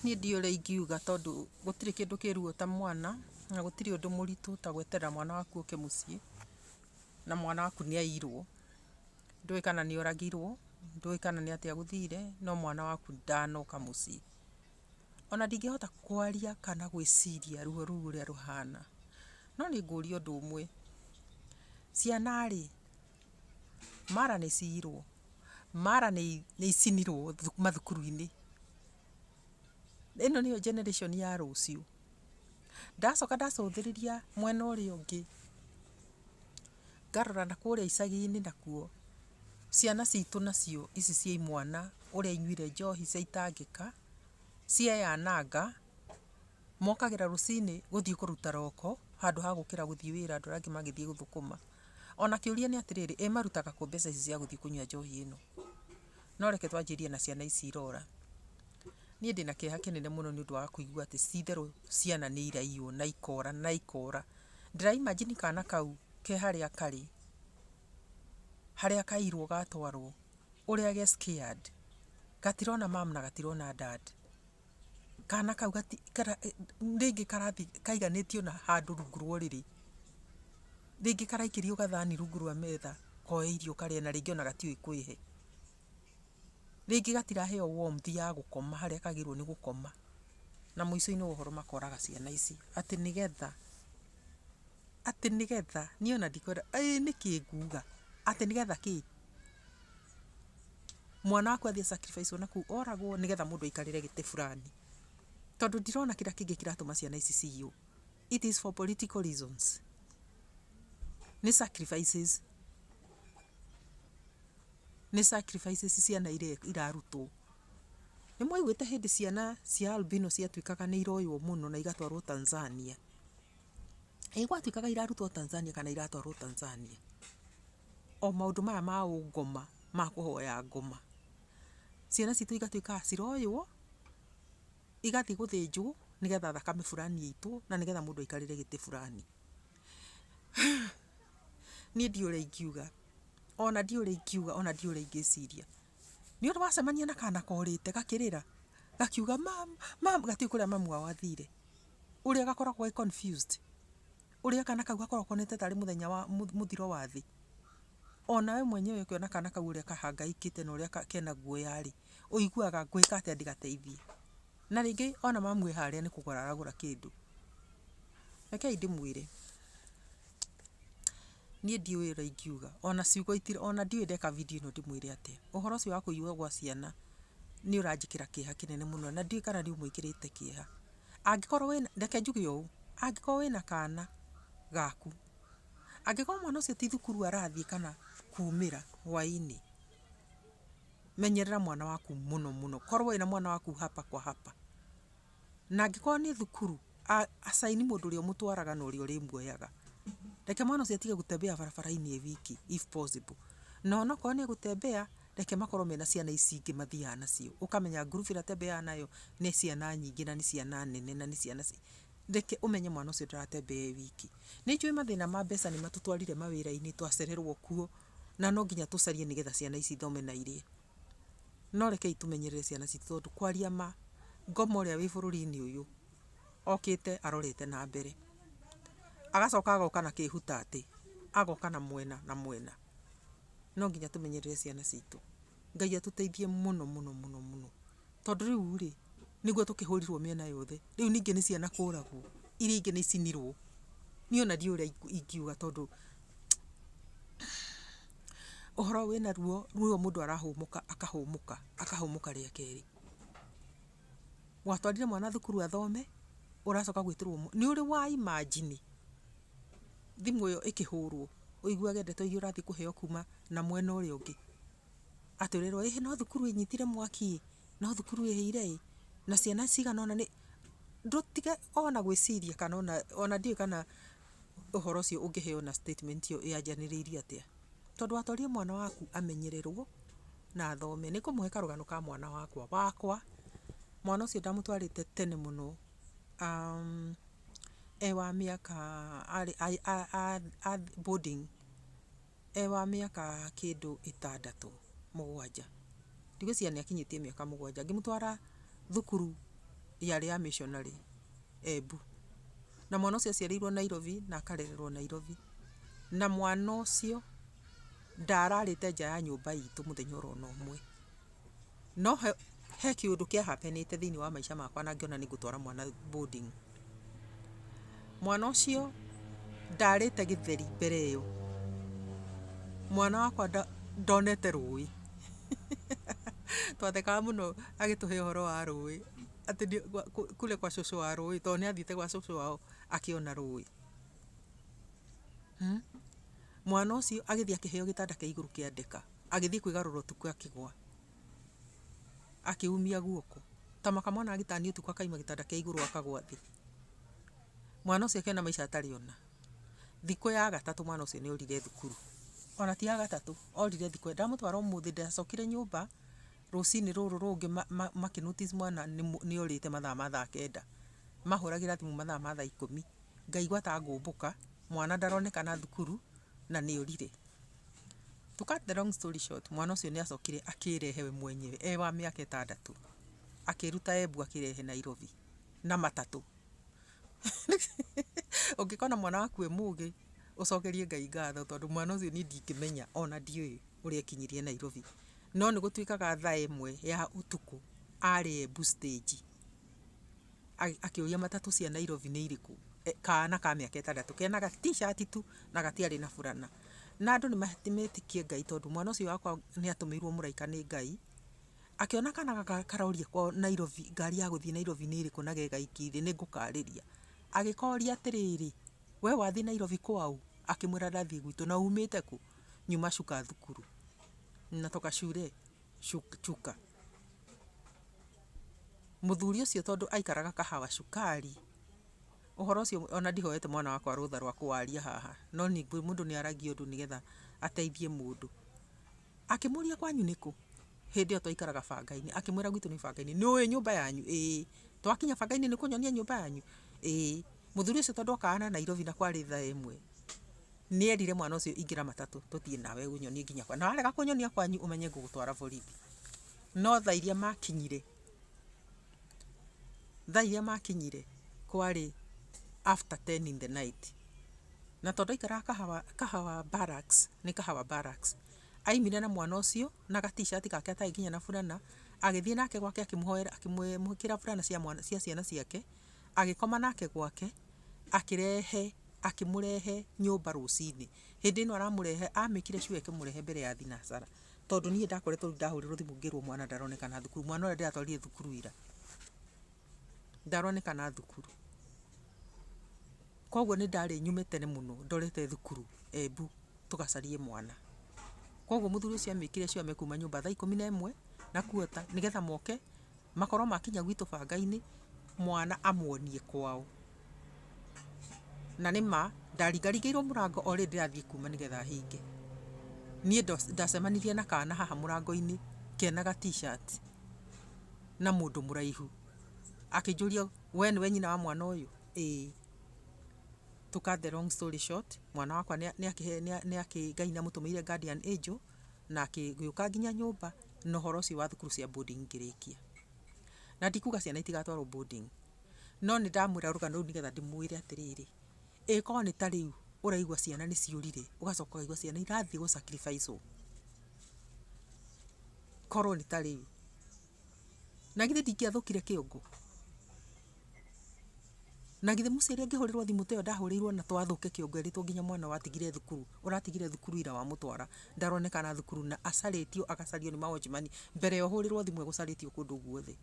Niĩ ndiũĩ ũrĩa ingiuga tondũ gũtirĩ kĩndũ kĩ ruo ta mwana, na gũtirĩ ũndũ mũritũ ta gweterera mwana waku oke mũciĩ, na mwana waku nĩ aiyirwo. Ndũĩ kana nĩ oragirwo, ndũĩ kana nĩ atĩa gũthire, no mwana waku ndanoka mũciĩ. Ona ndingĩhota kwaria kana gwĩciria ruo rũu ũrĩa rũhana. No nĩ ngũria ũndũ ũmwe, ciana rĩ? Mara nĩ ciyirwo, mara nĩ icinirwo mathukuru-inĩ. Ĩno nĩyo generation ya rũciũ. Ndacoka ndacũthĩrĩria mwena ũrĩa ũngĩ, ngarora na kũrĩa icagi-inĩ nakuo, ciana citũ nacio ici cia imwana, ũrĩa inyuire njohi cia itangĩka, cieyananga, mokagĩra rũcinĩ gũthiĩ kũruta roko, handũ ha gũkĩra gũthiĩ wĩra andũ arĩa angĩ magĩthiĩ gũthũkũma. Ona kĩũria nĩ atĩrĩrĩ, ĩ marutaga kũ mbeca ici cia gũthiĩ kũnyua njohi ĩno? No reke twanjĩrie na ciana ici irora. Niĩ ndĩ na kĩeha kĩnene mũno nĩ ũndũ wa kũigua atĩ ti itherũ ciana nĩ iraiywo na ikora na ikora. Ndĩra imagine kana kau ke harĩa karĩ, harĩa kaiyirwo gatwarwo, ũrĩa ge scared. Gatirona mum na gatirona dad. kana kau gati, kana rĩngĩ karathi kaiganĩtio na handũ rungu rwa ũrĩrĩ, rĩngĩ karaikĩrio gathani rungu rwa metha koe irio karĩe na rĩngĩ ona gatiũĩ kwĩhe, rĩngĩ gatiraheo warmth ya gũkoma harĩa kagĩrĩirwo nĩ gũkoma, na mũico-inĩ wa ũhoro makoraga ciana ici, atĩ nĩgetha, atĩ nĩgetha, niĩ ona ndikwenda, ĩĩ nĩkĩ nguga, atĩ nĩgetha kĩ? mwana waku athiĩ a sacrifice o nakũu oragwo nĩgetha mũndũ aikarĩre gĩtĩ burani. Tondũ ndirona kĩrĩa kĩngĩ kĩratũma ciana ici ciywo. It is for political reasons. Nĩ sacrifices. Nĩ sacrifices ciana iria irarutwo. Nĩ mwaiguĩte hĩndĩ ciana cia albino ciatuĩkaga nĩ iroywo mũno na igatwarwo Tanzania? Ĩ gwatuĩkaga irarutwo Tanzania kana iratwarwo Tanzania? o maũndũ maya ma ũngoma ma kũhoya ngoma, ciana citũ igatuĩka a ciroywo, igathiĩ gũthĩnjwo nĩgetha thakame burani ĩitwo na nĩgetha mũndũ aikarĩre gĩtĩ burani. Niĩ ndiũĩ ũrĩa ingiuga, ona ndiũĩ ũrĩa ingiuga, ona ndiũĩ ũrĩa ingĩciria. Nĩ ũrĩ wacemania na kana korĩte gakĩrĩra, gakiuga mama, mama, gatiũĩ kũrĩa mamu wao athire, ũrĩa gakoragwo ge confused? Ũrĩa kana kau gakoragwo konete tarĩ mũthenya wa mũthiro wa thĩ, o nawe mwenyewe ũkĩona kana kau ũrĩa kahangaĩkĩte na ũrĩa kena guoya-rĩ, ũiguaga ngwĩka atĩa ndĩgateithie? Na rĩngĩ o na mamu e harĩa nĩ kũgũra aragũra kĩndũ. Rekei ndĩmwĩre, niĩ ndiũĩ ũrĩa ingiuga, o na ciugo, o na ndiũĩ ndeka video ĩno ndĩmwĩre atĩa. Ũhoro ũcio wa kũiywo gwa ciana nĩ ũranjĩkĩra kĩeha kĩnene mũno na ndiũĩ kana nĩ ũmwĩkĩrĩte kĩeha. Angĩkorwo wĩna, reke njuge ũũ, angĩkorwo wĩna kana gaku, angĩkorwo mwana ũcio ti thukuru arathiĩ kana kumĩra hwainĩ, menyerera mwana waku mũno mũno. Korwo wĩna mwana waku hapa kwa hapa. Na angĩkorwo nĩ thukuru, assign mũndũ ũrĩa ũmũtwaraga na ũrĩa ũrĩmuoyaga. Reke mwana ũcio atige gũ tembea barabara-inĩ e wiki if possible. Na onokorwo nĩ egũ tembea. Reke makorwo mena ciana ici ingĩ mathiaga nacio. Ũkamenya ngurubu ĩrĩa atembeaga nayo nĩ ciana nyingĩ na nĩ ciana nene na nĩ ciana ci, reke ũmenye mwana ũcio ndaratembea e wiki. Nĩ njũĩ mathĩna ma mbeca nĩ matũtwarire mawĩra-inĩ, twacererwo kuo, na no nginya tũcarie nĩgetha ciana ici ithome na irĩe. No rekei tũmenyerere ciana citũ tondũ kwaria ma, ngoma ũrĩa wĩ bũrũri-inĩ ũyũ okĩte arorete na mbere. Agacoka agoka na kĩhutatĩ, agoka na mwena na mwena. no nginya tũmenyerere ciana citũ. Ngai atũteithie mũno mũno mũno mũno. Tondũ rĩu rĩ, nĩguo tũkĩhũrirwo mĩena yothe, rĩu ningĩ nĩ ciana kũragwo, iria ingĩ nĩ icinirwo. Niĩ ona ndiũĩ ũrĩa ingiuga tondũ ũhoro wĩna ruo, ruo mũndũ arahũmũka akahũmũka, akahũmũka rĩa kerĩ. Watwarire mwana thukuru athome, ũracoka gwĩtĩrwo, nĩ ũrĩ wa imagine thimũ ĩyo ĩkĩhũrwo, ũiguage ndeto iria ũrathiĩ kũheo kuuma na mwena ũrĩa ũngĩ, atĩ ũrerwo ĩhĩ no thukuru ĩnyitire mwaki-ĩ, no thukuru ĩhĩire-ĩ, na ciana cigana ũna nĩ, ndũtige ona gwĩciria kana ona, ona ndiũĩ kana ũhoro ũcio ũngĩheo na statement ĩyo yanjanĩrĩirie atĩa, tondũ watwarire mwana waku amenyererwo na athome, nĩngũmũhe karũgano ka mwana wakwa, wakwa, mwana ũcio ndamũtwarĩte tene mũno. e wa mĩaka arĩ boarding e wa mĩaka kĩndũ ĩtandatũ, mũgwanja, ndigwĩciria nĩ akinyĩtie mĩaka mũgwanja, ngĩmũtwara thukuru yarĩ ya missionary Embu, na mwana ũcio aciarĩirwo Nairobi na akarererwo Nairobi, na mwana ũcio ndararĩte nja ya nyũmba itũ mũthenya ona ũmwe. No he kĩũndũ kĩa happenĩte thĩinĩ wa maica makwa na ngĩona nĩ ngũtwara mwana boarding. Mwana ũcio ndarĩte gĩtheri mbere ĩyo, mwana wakwa ndonete rũĩ. Twathekaga mũno agĩtũhe ũhoro wa rũĩ, atĩ kule kwa cũcũ wa rũĩ, tondũ nĩ athiĩte gwa cũcũ wao akĩona rũĩ. Mwana ũcio agĩthiĩ akĩheo gĩtanda kĩa igũrũ kĩa ndeka. Agĩthiĩ kwĩgarũra ũtukũ akĩgwa. Akĩumia guoko. Tama kamwana agĩtania ũtukũ akaima gĩtanda kĩa igũrũ akagwa thĩ. Mwana ũcio akĩona maica atarĩ ona. Thikũ ya gatatũ mwana ũcio nĩ orire thukuru. Ona ti ya gatatũ, orire thikũ ya ndamũtwara ũmũthĩ ndacokire nyũmba, rũcinĩ rũrũ rũngĩ makĩ notice mwana nĩ orĩte mathaa ma thaa kenda. Mahũragĩra thimũ mathaa ma thaa ikũmi, ngaigua ta ngũmbũka, mwana ndaronekana thukuru na nĩ orire. To cut the long story short, mwana ũcio nĩ acokire akĩĩrehe we mwenyewe e wa mĩaka ĩtandatũ, akĩĩruta Embu akĩĩrehe Nairobi na matatũ. Ũngĩkona mwana waku e mũũgĩ, ũcokerie Ngai ngatho tondũ mwana ũcio niĩ ndingĩmenya ona ndiũĩ ũrĩa ekinyirie Nairobi. No nĩ gũtuĩkaga thaa ĩmwe ya ũtukũ arĩ Embu stage. Akĩũria matatũ cia Nairobi nĩ irĩkũ, kana ka mĩaka ĩtandatũ kena ga t-shirt tu na gatiarĩ na burana. Na andũ nĩ metĩkĩtie Ngai tondũ mwana ũcio wakwa nĩ atũmĩirwo mũraika nĩ Ngai. Akĩona kana gaka karoria kwao Nairobi, ngari ya gũthiĩ Nairobi nĩ ĩrĩkũ na ge gaiki thĩ nĩ ngũkarĩria. Agĩkoria atĩrĩrĩ, we wathiĩ Nairobi kwao? Akĩmwĩra ndathiĩ gwitũ. Na uumĩte kũ? Nyuma Chuka thukuru. Natoka shule Chuka. Mũthuri ũcio tondũ aikaraga kahawa cukari, ũhoro ũcio ona ndihoete mwana wakwa rũtha rwa kũwaria haha, no ningĩ mũndũ nĩ aragia ũndũ nĩgetha ateithie mũndũ. Akĩmũria kwanyu nĩ kũ? Hĩndĩ ĩyo twaikaraga banga-inĩ, akĩmwĩra gwitũ nĩ banga-inĩ. Nĩ ũĩ nyũmba yanyu? Ĩĩ. Twakinya banga-inĩ nĩ ũkũnyonia nyũmba yanyu? Ĩĩ. Mũthuri ũcio tondũ okaga na Nairobi na kwarĩ thaa ĩmwe. Nĩerire mwana ũcio ingĩra matatũ tũthiĩ nawe ũnyonie nginya kwa na warega kũnyonia kwanyu ũmenye ngũgũtwara borithi. No thaa iria makinyire, thaa iria makinyire kwarĩ after ten in the night. Na tondũ aikaraga Kahawa, Kahawa Barracks, nĩ Kahawa Barracks, aimire na mwana ũcio na ga t-shirt gake atarĩ nginya na burana, agĩthiĩ nake gwake akĩmũhoera, akĩmũĩkĩra burana cia mwana, cia ciana ciake. agĩkoma nake gwake, akĩrehe, akĩmũrehe nyũmba rũcinĩ, hĩndĩ ĩno aramũrehe, a make ire sure akĩmũrehe mbere ya thinacara, tondũ niĩ ndakoretwo rĩu ndahũrĩrwo thimũ ngĩrwo mwana ndaronekana thukuru, mwana ũrĩa ndĩratwarire thukuru ira, ndaronekana thukuru, koguo nĩ ndarĩ nyume tene mũno ndorete thukuru Embu tũgacarie mwana, koguo mũthuri ũcio a make ire sure mekuma nyũmba thaa ikũmi nemwe na quarter nĩgetha moke. Makoro makinya gwitũ bangainĩ mwana amuonie kwao. Na nĩma ndaringaringĩirwo mũrango o rĩrĩ ndĩrathiĩ kuma nĩgetha hinge. Niĩ ndacemanirie na kana haha mũrangoinĩ kena ga t-shirt na mũndũ mũraihu. Akĩnjũria we nĩwe nyina wa mwana ũyũ? Ĩĩ. To cut the long story short, mwana wakwa nĩakĩ Ngai nĩamũtũmĩire guardian angel. na ngĩũka nginya nyũmba na ũhoro ũcio wa thukuru cia boarding ngĩrĩkia. Na ndikuga ciana itigatwarwo boarding, no nĩ ndamwĩra rũgano rũu nĩgetha ndĩmwĩre atĩrĩrĩ, ĩ korwo nĩ ta rĩu ũraigua ciana nĩ ciũrire, ũgacoka ũkaigua ciana irathiĩ gũ sacrifice wo, korwo nĩ ta rĩu. na githĩ ndingĩathũkire kĩongo? Na githĩ Musa rĩrĩa angĩhũrĩrwo thimũ ta ĩyo ndahũrĩirwo na to athũke kĩongo erĩtwo nginya mwana watigire thukuru, ũratigire thukuru ira wamũtwara ndaronekana thukuru na acarĩtio agacario nĩ ma watchman mbere ya ũhũrĩrwo thimũ egũcarĩtio kũndũ guothe.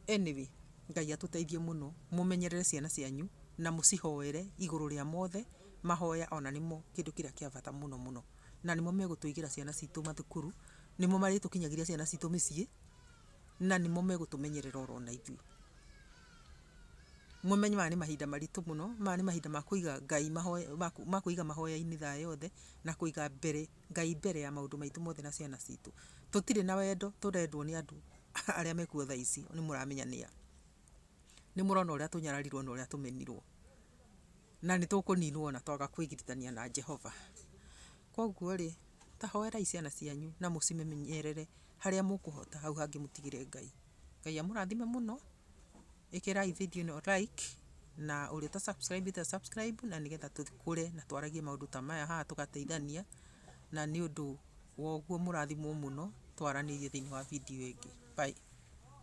Anyway, Ngai atũteithie mũno, mũmenyerere ciana cianyu na mũcihoere igũrũ rĩa mothe, mahoya ona nĩmo kĩndũ kĩrĩa kĩa bata mũno mũno. Na nĩmo megũtũigĩra ciana citũ mathukuru. Nĩmo marĩtũkinyagĩria ciana citũ mĩciĩ, na nĩmo megũtũmenyerera oro ona ithuĩ. Mũmenye maya nĩ mahinda maritũ mũno, maya nĩ mahinda ma kũiga Ngai mahoya, ma kũiga mahoya-inĩ thaa yothe, na kũiga mbere, Ngai mbere ya maũndũ maitũ mothe na ciana citũ. Tũtirĩ na wendo tũrendwo nĩ andũ arĩa me kuo thaa ici nĩ mũramenya nĩa. Nĩ mũrona ũrĩa tũnyararirwo na ũrĩa tũmenirwo. na nĩ tũkũninwo na twaga kwĩgiritania na Jehova. Kwoguo rĩ, ta hoerai ciana cianyu na mũcimenyerere harĩa mũkũhota, hau hangĩ mũtigĩre Ngai. Ngai amũrathime mũno, ĩkĩrai video ĩno like, na ũrĩa ũta subscribĩte a subscribe, na nĩgetha tũkũre na twaragie maũndũ ta maya haha tũgateithania, na nĩ ũndũ wa ũguo mũrathimwo mũno, twaranĩrie thĩiniĩ wa video ĩngĩ. Bye.